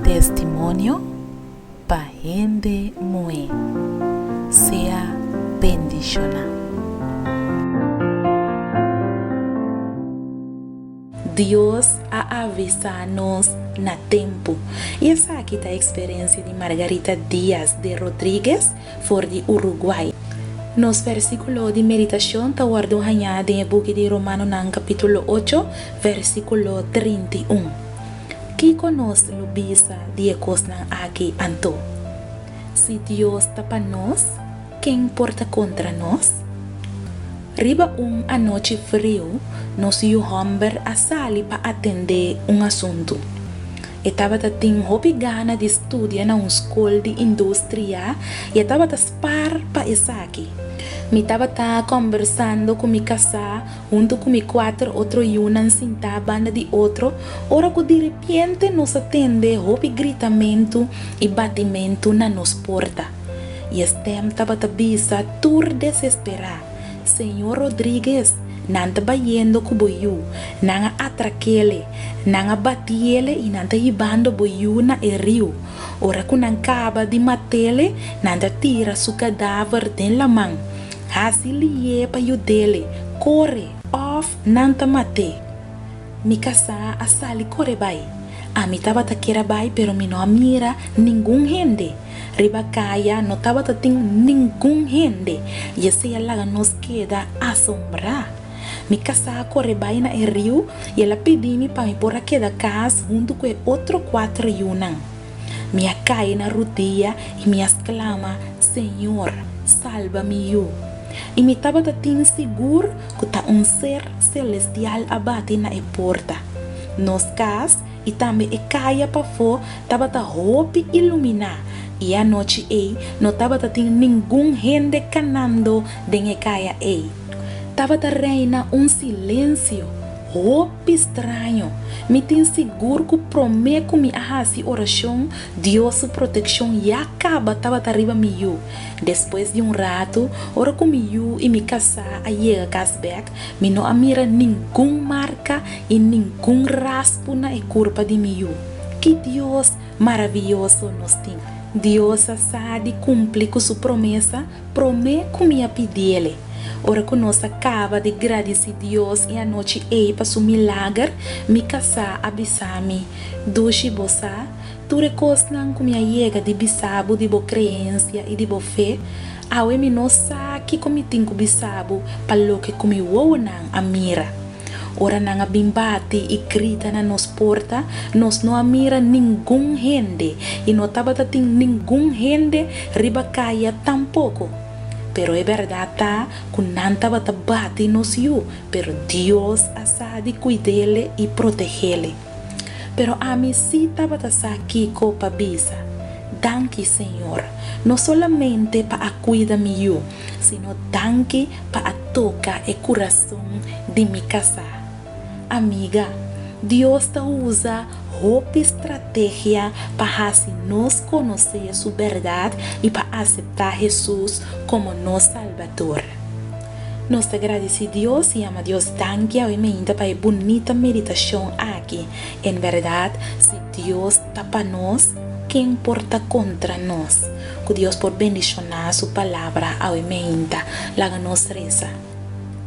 Testimonio pa hende muhé. Sea bendishoná. Dios a avisá nos na tempu. I esaki ta eksperensia di Margarita Díaz de Rodríguez for di Uruguay. Nos versíkulo di meditashon ta wòrdu hañá den e buki di Romanonan kapítulo ocho, versíkulo trinta i un. Kiko nos lo bisa di e kosnan akí anto? Si Dios ta pa nos, ken por ta kontra nos? Riba un anochi friu, nos yu hòmber a sali pa atendé un asuntu. E tabata tin hopi gana di studia na un skol di industria i e tabata spar pa esaki. Mi tabata kòmbersando ku mi kasá huntu ku mi kuater otro yunan sintá banda di otro ora ku direpiente nos a tende hopi gritamentu i batimentu na nos porta. i e stèm tabata bisa tur desesperá, Señor Rodríguez, nan ta bayendo ku bo yu, nan a atrak'ele, nan a bati'ele i nan ta hibando bo yu na e riu. Ora ku nan kaba di mat'ele, nan ta tira su kadaver den laman. Hasi liye pa yud'ele, kore, òf nan ta mat'é! Mi kasá a sali kore bai. Ami tabata kier a bai pero mi no a mira ningun hende. Riba kaya no tabata tin ningun hende i esei a laga nos keda asombrá. Mi kasá a kore bai na e riu i el a pidi mi pa mi por a keda kas huntu ku e otro kuater yunan. Mi a kai na rudia i mi a sklama, Señor, salba mi yu! I mi tabata tin sigur ku ta un ser selestial a bati na e porta. Nos kas i tambe e kaya pafó tabata hopi iluminá, i anochi ei no tabata tin ningun hende kanando den e kaya ei. Tabata reina un silensio. Hopi straño. Mi tin sigur ku promé ku mi a hasi orashon, Dios su protekshon ya kaba tabata riba mi yu. Despues di un ratu, ora ku mi yu i mi kasá a yega kas bèk, mi no a mira ningun marka i ningun raspu na e kurpa di mi yu. Ki Dios maravioso nos tin! Dios a sa di kumpli ku su promesa. Promé ku mi a pidi el e, ora ku nos a kaba di gradisí Dios e anochi ei pa su milager, mi kasá a bisa mi, Dushi, bo sa tur e kosnan ku mi a yega di bisa bo di bo kreensia i di bo fe. Awe mi no sa kiko mi tin ku bisa bo pa loke ku mi wowonan a mira. Ora nan a bin bati i grita na nos porta, nos no a mira ningun hende i no tabata tin ningun hende riba kaya tampoko. Pero e bèrdat ta ku nan tabata bati nos yu, pero Dios a sa di kuid'ele i protegéle. Pero ami sí tabata sa kiko pa bisa. Danki, Señor, no solamente pa a kuida mi yu, sino danki pa a toka e kurason. Son di mi kasá. Amiga, Dios ta usa hopi strategia pa hasi nos konosé su bèrdat i pa aseptá Hesus komo nos Salbador. Nos ta gradisí Dios i yama Dios danki awe mainta pa e bunita meditashon akí, En bèrdat, si Dios ta pa nos, ken por ta kontra nos? Ku Dios por bendishoná su Palabra awe mainta, laga nos resa.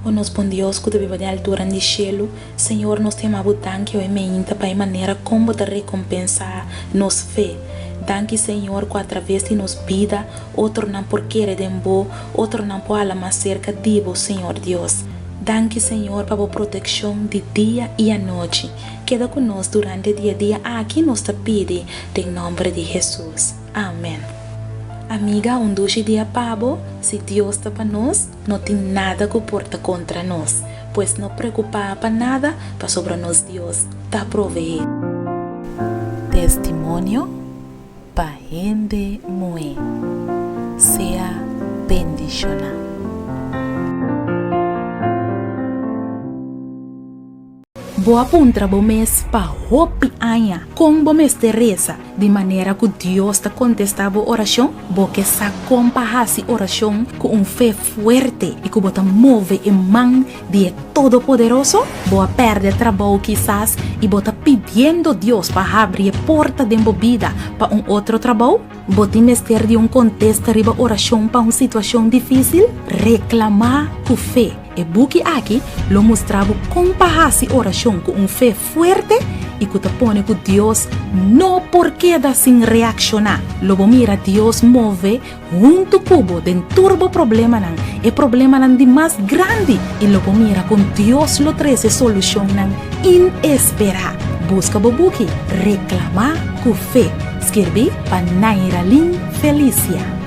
O nos Bon Dios ku ta biba den altura di shelu, Señor, nos ta yama Bo danki oe meinta pa e manera kon Bo ta rekompensá nos fe. Danki, Señor, ku atraves di nos bida otronan por kere den Bo, otronan por hala mas serka di Bo, Señor Dios. Danki, Señor, pa Bo protekshon di dia i anochi. Keda ku nos durante e dia dia aki, nos ta pidi den nòmber di Hesus. Amèn. Amiga, un dushi dia pa bo, si Dios ta pa nos. No tin nada ku por ta kontra nos, pues no preokupá pa nada, pasobra nos Dios ta proveé. Testimonio pa hende muhé. Sea bendishoná. Bo a puntra bo mes pa hopi aña kon bo mester resa di manera ku Dios ta kontestá bo orashon? Bo ke sa kon pa hasi orashon ku un fe fuerte i ku bo ta move e man di e Todopoderoso? Bo a pèrdè trabou kisas i bo ta pidiendo Dios pa habri e porta den bo bida pa un otro trabou? Bo tin mester di un kontesta riba orashon pa un situashon difísil? Reklamá ku fe. E buki aki lo mustra bo kon pa hasi orashon ku un fe fuerte i ku ta pone ku Dios no por keda sin reakshoná. Lo bo mira Dios move huntu ku bo den tur bo problemanan, e problemanan di mas grandi, i lo bo mira kon Dios lo trese solushonnan inesperá. Buska bo buki Reklamá ku fe, skirbí pa Nairalyn Felicia.